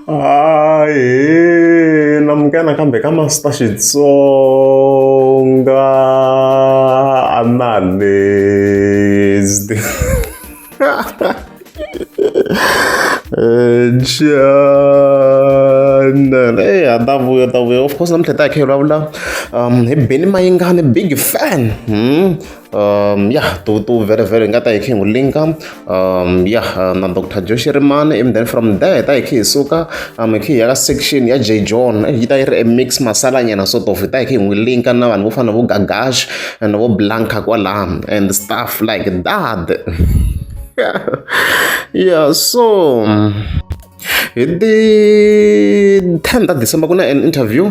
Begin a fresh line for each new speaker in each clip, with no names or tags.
Hayi, namuka nakambe ka Master Xitsonga analyst. Channel. Hey, ta vuya ta vuya. Of course namuntlha ta hi kha hi vulavula um hi Benny Mayengani big fan. Um, ya to, to very very nga ta hi khe hi n'wi linka um, ya uh, na dr joshi rimani and then from there hi ta hi khe hi suka um, hi khe hi ya ka section ya j john eh, yi ta yi ri a mix masalanyana sort of hi ta hi khe hi n'wi linka na vanhu vo fana vo gagash and vo blanka kwalaha and stuff like that yeah so um, Hi ti ten ta December ku na an interview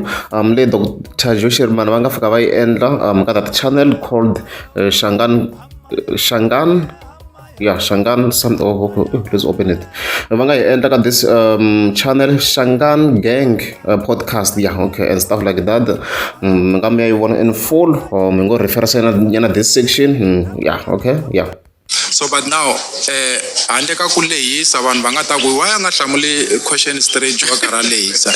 leyi doctor Joe Shirimani va nga fika va yi endla ka that channel called Shangaan Shangaan ya Shangaan some of please open it va nga yi endla ka this um channel Shangaan Gang podcast ya okay and stuff like that mi nga mi ya yi vona in full or mi ngo refer nyana this section ya okay ya. So but now
eh handle ka ku lehisa vanhu va nga ta ku why a nga hlamuli question straight jo karha lehisa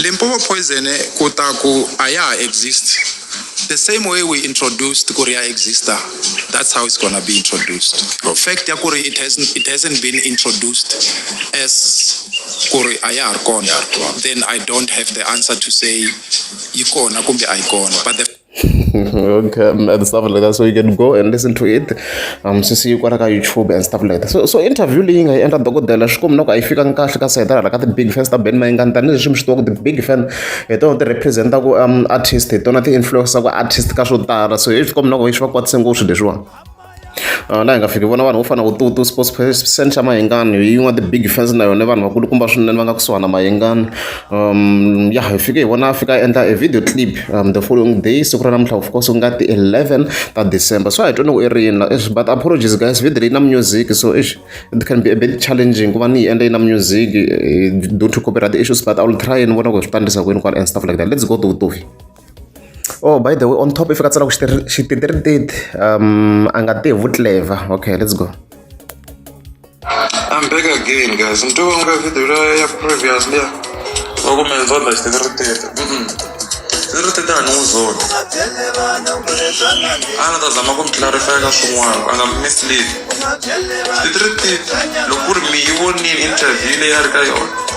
Limpopo poison eh, ku ta ku a ya exist the same way we introduced ku ri ya exista that's how it's gonna be introduced oh. fact ya ku ri it hasn't it hasn't been introduced as ku ri a ya ha ri kona then i don't have the answer to say yi kona kumbe a yi kona but the okay,
um, and stuff like that. So you can go and listen to it. Um, so see you got ka YouTube and stuff like that. So so interview leyi nga yi endla dokodela swi komi na ku a yi fikanga kahle ka sayitara la ka ti-big fans ta ben mayingani tanihileswi mi swi tivaka ti-big fan hi tona ti representaku um artist hi tona ti-influenceaku artist ka swo tala so hi swi komi na ku yi swi va kwatise ngopfu leswiwani laha hi nga fiki hi vona vanhu vo fana na vo Tutu sports person xa Mayengani hi yin'wana ya ti-big fans na yona vanhu vakulukumba swinene va nga kusuhana na Mayengani ya hi fike hi vona a fika a endla e video clip the following day siku ra namuntlha of course ku nga ti-eleven ta December so a hi twa loko i ri yini la exi but apologies guys video leyi na music so exi it can be a bit challenging ku va ni yi endla yi na music due to copyright issues but I will try ni vona ku swi ta endlisa ku yini kwala and stuff like that let's go to Vutohi. Oh by the way on top i fika tsala ku xititirititi um a nga tihi vutleva okay let's go I'm
back again guys ni twa nga video la ya previous liya wa ku menza la xititirititi xititirititi a ni n'wi zoni a ni ta zama ku mi clarify ka swin'wana a nga mi mislead xititirititi loko ku ri mi yi vonile interview leyi a ri ka yona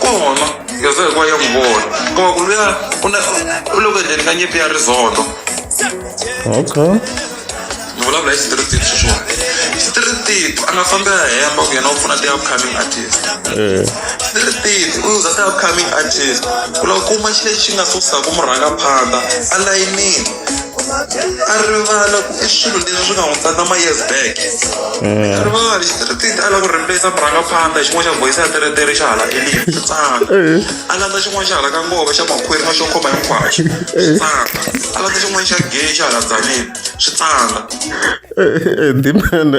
kona leswo hikuva ya n'wi vona kuma ku luya u na u loko endleni ka nyipi ya rizoto
okay
ni vulavula hi street team sweswiwani street team a nga fambi a hemba ku yena u pfuna ti-upcoming artist eh street team u uza ti-upcoming artist ku lava kuma xilo lexi nga susaka murhangaphandha a layinini a rivala ku i swilo leswi swi nga hundza na ma-years back mm. a rivali xitiritithi a lava ku rimbesa murhangaphandla xin'wana xa voyisa ya teretere xa hala elini swi tsana a landza xin'wana xa hala ka ngova xa makhwiri na xo khoma hinkwaxo swi tsana a landza xin'wana xa gay xa hala dzanini swi tsana ndimane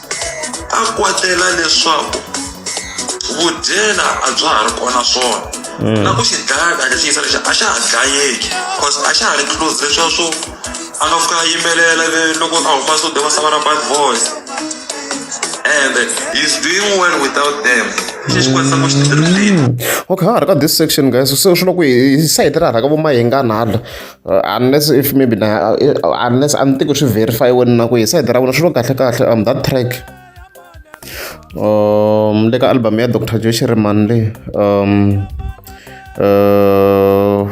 a kwatela leswaku vudyela a bya ha ri kona swona hmm. na ku xi dlaya kahle xi yisa lexi a xa ha dlayeki cause a xa ha ri close leswiya swo a nga fika a yimelela loko a huma swo deva sava ra bad voice and he's doing well without them hmm.
okay ha ha ri ka this section guys se swi loko hi sayiti ra ha ri ka vo mahingana hala unless if maybe na unless a ni tivi ku swi verify-iweni na ku hi sayiti ra vona swi lo kahle kahle um that track um le ka album ya dr joe shiriman le um uh,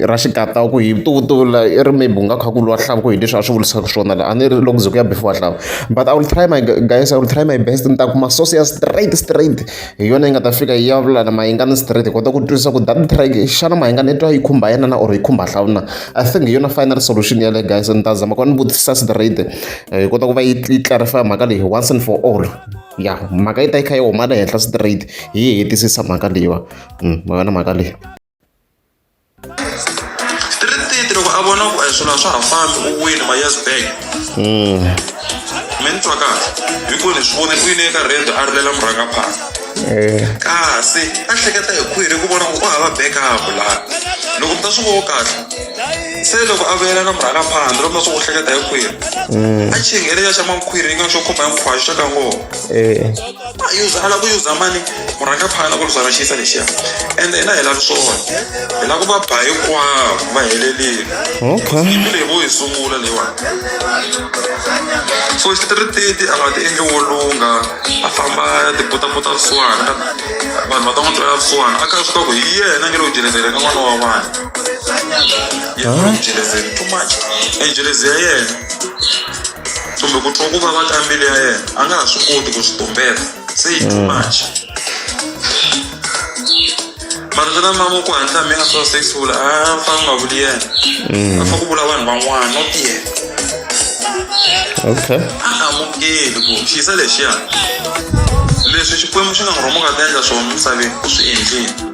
ra xikata ku hi vutuvutula i ri maybe u nga kha ku lwa hlava ku hi leswi a swi vulisaka swona la a ni ri loko ze ku ya before hlava but i will try my guys i will try my best ni ta kuma source ya straight straight hi yona yi nga ta fika yi ya vula na Mayengani straight hi kota ku twisisa ku that track xana Mayengani i twa yi khumba yena na or yi khumba hlawu na I think hi yona final solution ya le guys ni ta zama ku ni vutisa straight eh, hi kota ku va yi clarify mhaka leyi once and for all ya mhaka yi ta yi kha yi huma le henhla straight hi yi hetisisa mhaka leyiwa mm, ma yona mhaka leyi
ri titi loko a vona ku a hi swilo a swa ha fambi u wini ma yes bank mi ni twa kahle hikuva ni swi vone ku yini eka rendo a rilela murhangaphala kasi a hleketa hi khwiri ku vona ku u hava backup laha loko mi ta swi vona kahle se loko a vuyela na murhangaphandle loko mi ta swi ku hleketa hi khwiri a chingele ya xa mankhwiri yi nga xo khoma hi nkhwaxo xa ka ngoma user a lava ku user mani murhanga phana ku luzana xiyisa lexiya and hina hi lavi swona hi lava ku va ba hinkwavo va helelile okay yimbi leyi vo yi sungula leyiwani so xitirititi a nga ti endli wo lungha a famba ya tibutabuta vusiwana vanhu va ta n'wi twela vusiwana a kha swi ta ku hi yena nge lo ku jelezele ka n'wana wa vanhu yena lo ku jelezele too much and jelezi ya yena kumbe ku twa ku vava ka mbilu ya yena a nga ha swi koti ku swi tumbeta se yi too much mara swi na mama ku hatla mi a swa sexful a fa nga vuli yena a fa ku vula vanhu van'wana not yena okay
a amukeli
ku xiyisa lexiya leswi xikwembu xi nga n'wi rhoma ka ta endla swona misaveni u swi endlile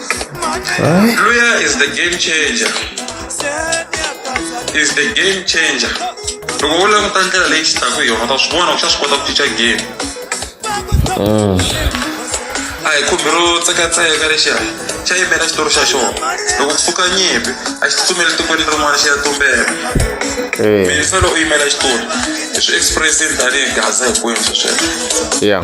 Huh? Luya is the game changer. Is the game changer. Loko wo languta ndlela leyi xi taka hi yona ta swi vona ku xa swi kota ku cinca game. Mm. A hi khumbi ro tsekatseka lexiya xa yimela xitori xa xona. Loko ku pfuka nyimpi a xi tsutsumeli tikweni rin'wana xi ya tumbela. Eh. Mina fela u yimela xitori. Swi express-ini tanihi gaza hinkwenu swesweswo. Yeah.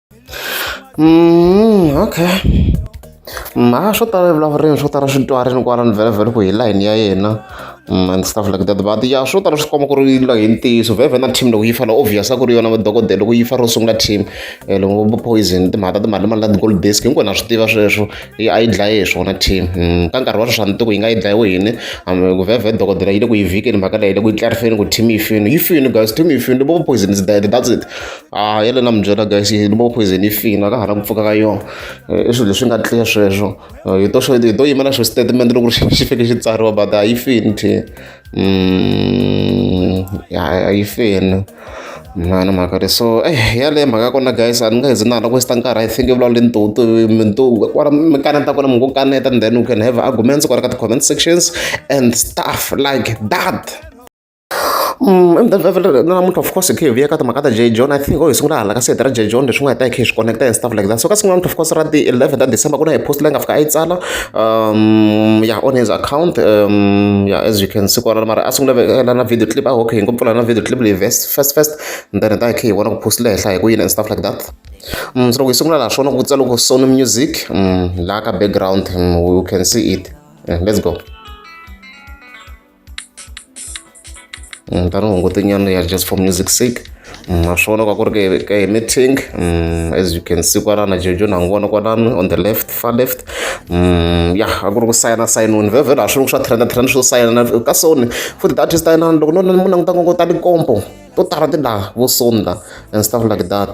Mm, okay mara swo tala evulavurini swo tala swi twa rini kwala ni vhelavhele ku hi layini ya yena mm, and stuff like that but ya swo tala swi komba ku ri la hi ntiyiso vhevhe na team loko yi fana obvious a ku ri yona madokodela loko yi fa ro sungula team eh, loko vo poison timhaka ta timali mali na ti-gold disk hinkwenu na swi tiva sweswo yi a yi dlaye hi swona team mm, ka nkarhi wa sweswi a ni tiku yi nga yi dlayiwe yini ku vhevhe dokodela yi le ku yi vhikeni mhaka leyi le ku yi tlarifeni ku team yi fini yi fini guys team yi fini vo poison is dead that's it a ah, yele na mi byela guys ni vo poison yi fina ka ha na ku pfuka ka yona eh, i swilo leswi nga clear sweswo eh, hi to hi to yimela swo statement loko xi fike xi tsariwa but a yi fini thi mm, a yi fini mhana mhaka le so eh yaleyo mhaka ya kona guys a ni nga hezi na hala ku westa nkarhi i think i vulavula ntutu mintuku kwala mi kaneta kona mi ngo kaneta and then you can have arguments kwala ka ti-comment sections and stuff like that Mm, na munhu of course hi khe hi vuya ka timhaka ta j john i think o hi sungula hala ka sete ra j john leswi nga hi ta hi khe hi swi connecta and stuff like that so ka sungula munhu of course ra ti eleven ta december ku na hi post leyi nga fika a yi tsala um ya on his account um ya as you can see kwalana mara a sungula vekela na video clip a hoke hi ngo pfula na video clip leyi vest first first and then hi ta hi khe hi vona ku post le henhla hi ku yini and stuff like that um so loko hi sungula laha swona ku tsala ku sony music um laha ka background um, you can see it yeah, let's go ni ta ni hungutinyana ya just for music sake ma swi vona ka ku ri ka hi meeting as you can see kwanana jojo na n'wi vona kwanani on the left far left ya a ku ri ku sayina sayinoni vhevhela a swi ri ku swa trenda trenda swo sayina ka soni futhi data swi tayinana loko no mu languta ngopfu ta tikompo to tala ti laha vo soni la and stuff like that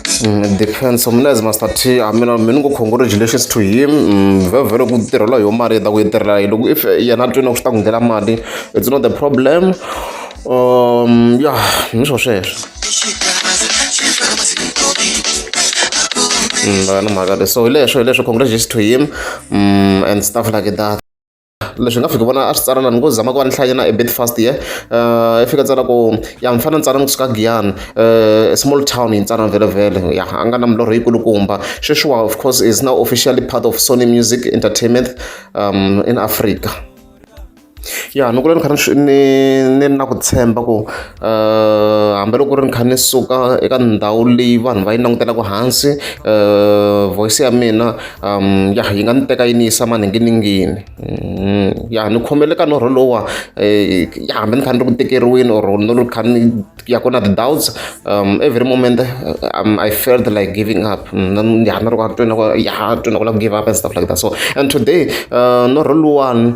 Mm, defense mnez master t a mina mi ni ngo congratulations to him mm, vhevhele ku tirhela hi yo mali yi ta ku yi tirhela yi loko if yena twini ku swi ta ku nghela mali it's not the problem um ya ni swo sweswo mm, ni mhaka le so hi leswo hi leswo congratulations to him um and stuff like that leswi nga fika vona a swi tsala lani ngo zama ku va ni hlaya na ebet fast ye i fika tsala ku ya mi fana ni tsala ni kusuka giyani um small town yi tsala vhelevhele ya a nga na milorho yikulukumba sweswiwa of course is now officially part of sony music entertainment um in africa ya ni kula ni kha ni ni ni na ku tshemba ku hambiloko ri ni kha ni suka eka ndhawu leyi vanhu va yi langutelaka hansi voice ya mina ya yi nga ni teka yi ni yisa maninginingini ya ni khomele ka norho lowa ya hambi ni kha ni ri ku tikeriweni or ni ri kha ni ya ku na ti-doubts every moment I felt like giving up na ni ri ku a tweni na ku ya tweni na ku lava ku give up and stuff like that so and today norho luwani.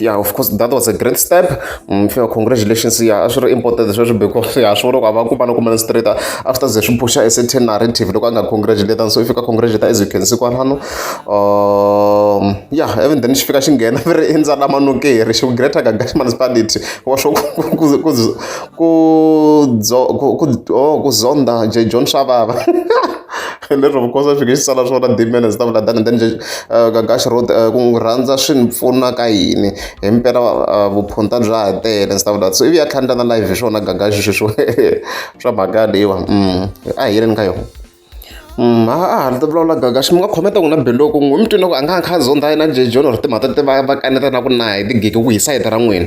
yeah of course that was a great step mm, fia congratulations ya a swi ri important sweswo because ya swi vona ku a va kuma no kumana straight after ze swi pusha a certain narrative loko a nga congratulate so if you ka congratulate as you can see kwalano um yeah even then xi fika xi nghena mi ri endzala manokeri xi ku greater gagash municipality wa swo ku ku ku ku zonda j john shavava leswaku nkosi a fika i sala swona timela ndzi ta vula than then Gagash road ku n'wi rhandza swi ni pfuna ka yini himpela vuphunta bya ha tele ndzi ta vula so ivi ya tlhandla na live hi swona Gagash sweswo swa mhaka leyiwa a hi yeleni ka yona ha a ha ta vulavula Gagash mi nga khometa n'wina biloko n'wi mi twile ku a nga a kha a zondha yena J John or timhaka ta va va kaneta na ku na hi tigigi ku hi sayiti ra n'wina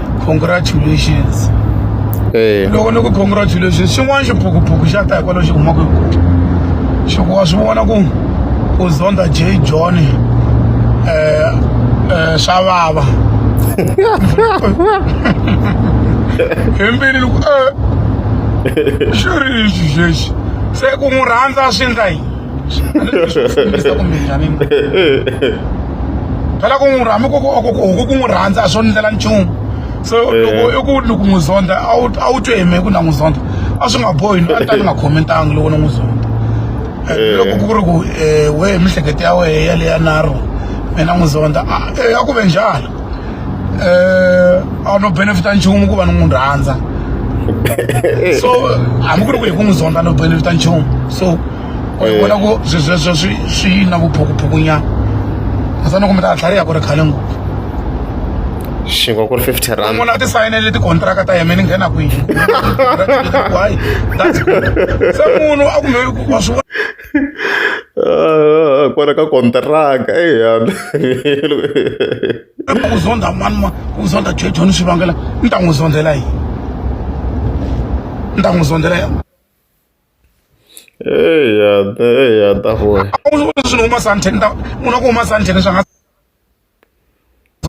congratulations eh. loko ni ku congratulations xin'wana xiphukuphuku xa ta hikwalaho xi kumaka xi ku wa swi vona ku u zonda j john um um swa vava hembeni ni ku e xi ri lexi xexi se ku n'wi rhandza swi endla yini Ndzi ku mina ni phela ku n'wi rhami ku ku ku n'wi rhandza a swo ndlela nchumu so eh. loko i ku loko n'wi zonda a wu a wu twe hi me ku na n'wi zonda a swi nga bohi ni a ta ni nga khomentanga loko ni n'wi zonda eh, eh. loko ku ri ku um we mihleketo ya wehe yaleya naro mina n'wi zonda a ya ku ve njhani eh, a no benefita nchumu ku va ni n'wi rhandza so hambi ku ri ku hi ku n'wi zonda no benefita nchumu so u eh. vona ku swesweswo swi swi na vuphukuphukunyana kasi ni kumbe ta tlhariha ku ri khale ngopfu xingo
ku ri fifty rand munhu a ti sayinele tikontraka
ta yena ni nghena kwihi that's good se munhu a kumbe wa swi
kwala ka kontiraka kambe
ku zondha mani ma ku zondha jejoni swi vangela ni ta n'wi zondhela yini ni ta n'wi zondhela yini eya
eya ta foya swi ni huma
santheni ta munhu ku huma santheni swa nga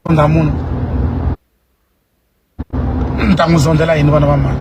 zondha munhu ni ta n'wi zondhela yini vana va mani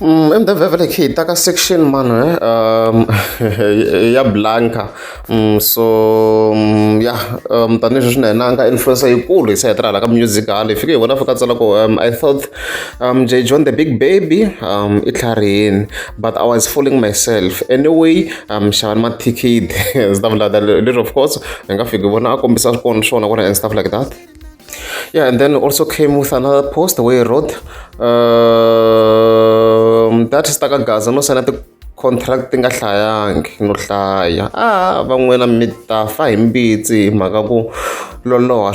Mm, in the village hi ta ka section mano eh um ya blanca mm, so mm, ya um tanihileswi swi na hina nga influence yikulu hi se hetirha la ka music hale fike hi vona fika tsala ku um i thought um j john the big baby um i tlharihini but i was fooling myself anyway um xavani mathikithi stuff like that little of course hi nga fiki vona a kombisa swikona swona kona and stuff like that yeah and then also came with another post where he wrote um, that is takagaza no signa the contract ti nga hlayangi no hlaya a ah, van'wina mi ta fa hi mbitsi hi mhaka ku loloha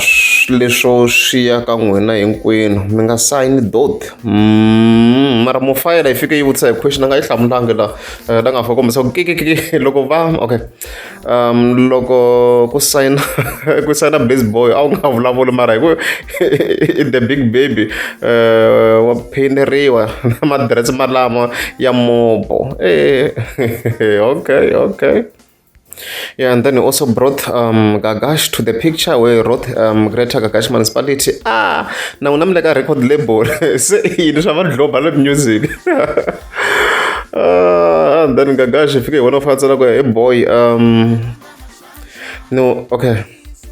leswo swi ya ka n'wina hinkwenu mi nga sayini dot mm, mara mufayela yi fike yi vutisa hi question a nga yi hlamulanga la eh, la nga fa kombisa ku kikikiki loko va okay um loko ku sayina ku sayina base boy a wu nga vulavuli mara hi ku i the big baby um wa phineriwa na madirese malama ya mobo e okay okay Yeah, and then he also brought um, Gagash to the picture where he wrote um, Greater Gagash Municipality. Ah, now I'm like a record label. Say, you know, I'm a global music. Ah, then Gagash, if you want to fight, hey boy, um, no, okay,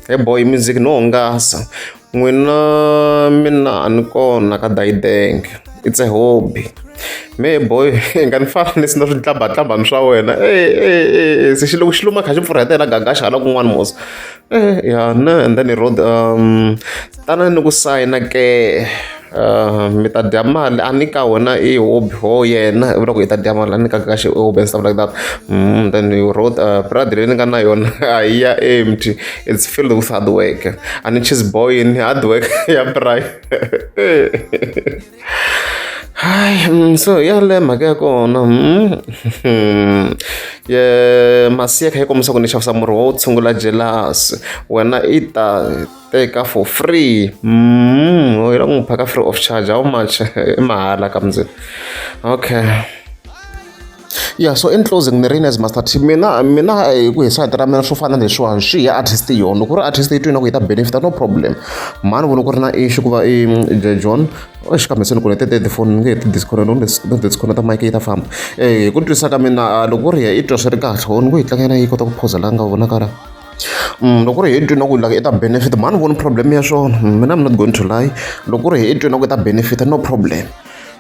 hey boy, music, no, ngasa. Mwina mina anikona ka Daideng. It's a hobby. Me boy, ngani fana ni sina switlamba tlamba swa wena. Eh eh eh, se xilo xiluma kha xi pfurhetela Gagash hala kun'wana mos. Eh, ya na and then he wrote um tanani ni ku sayina ke uh, mi ta dya mali a ni ka wena i hobby ho yena i vula ku i ta dya mali a ni ka ka xi hobby and stuff like that mm, then you wrote uh, brad leyi ni nga na yona a yi ya empty it's filled with hard work a ni cheese boy ni hard work ya bry Hi, mm, so ya le mhaka ya kona mm, ye masiya kha yi kombisa ku ni xavisa murhi wo tshungula jelasi wena i ta teka for free mm, u lava ku n'wi phaka free of charge how much i mahala ka mndzeni okay yeah so in closing ni ri as master t mina mina hi ku hisa hita ra mina swo fana leswiwani swi ya artist yona loko ri artist yi twina ku yi ta benefita no problem mani vona ku ri na issue ku va i john xikambe se ni kone tete tifoni ni nge heti disconnect no disconnect mic yi ta famba hi ku twisa ka mina loko ri ya i twa swi ri kahle ni ku yi tlangela yi kota ku phozela nga vonaka ra Loko ku ri hi twe na ku like i ta benefit-a mhani ni voni problem ya swona mina I'm not going to lie. Loko ku ri hi twe na ku i ta benefit-a no problem.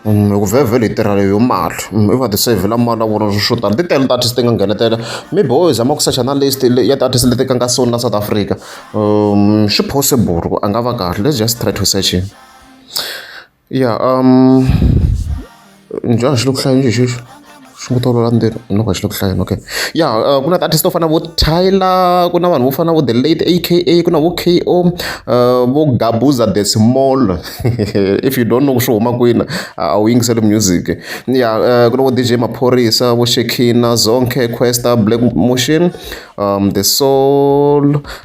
Hikuva vhele hi tirha hi yona mali, i va tiseyivhela mali ya vona swo tala. Ti tele ti-artist ti nga nghenetela, maybe wo zama ku secha na list leyi ya ti-artist leti tlangaka so na South Africa. Swi possible ku a nga va kahle, let's just try to search him. Ya njhani xi le ku hlayeni njhe xexo xi ngo tolovela ndzeni u nga ku a xi le ku hlayeni okay ya ku na ti-artist to fana na vo Tyler ku na vanhu vo fana na vo The Late A_K_A ku na vo K_O vo Gabuza The Small if you don't know ku swi huma kwini a wu yingiseli music ya ku na vo D_J Maphorisa vo Shekinah Zonke Kwesta Black Moxeni The Soul.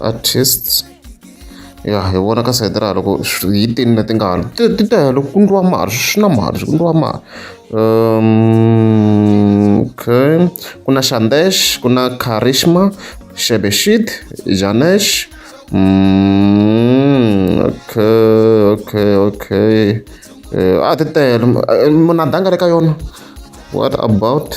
artist ya hi vona ka sayiti ra loko hi tini leti nga hala ti ti tele ku ndliwa mali swi na mali ku ndliwa mali um okay ku na shandesh ku na karishma shebeshit janesh mm, okay okay okay uh, a ti tele munhu a danga le ka yona what about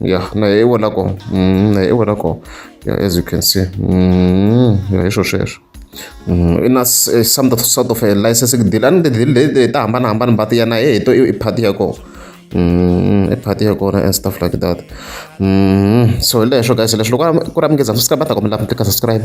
ya na hi vona ko mm, na hi vona ko ya as you can see mm, ya hi swo sweswo mm, i na eh, some sort of a licensing deal a ni tidili leti ta hambanahambana mbati ya na he hi to i party ya kona i party ya kona and stuff like that so hi leswo guys leswi loko ku ri mingezana swi ka bata kombela mi tlika subscribe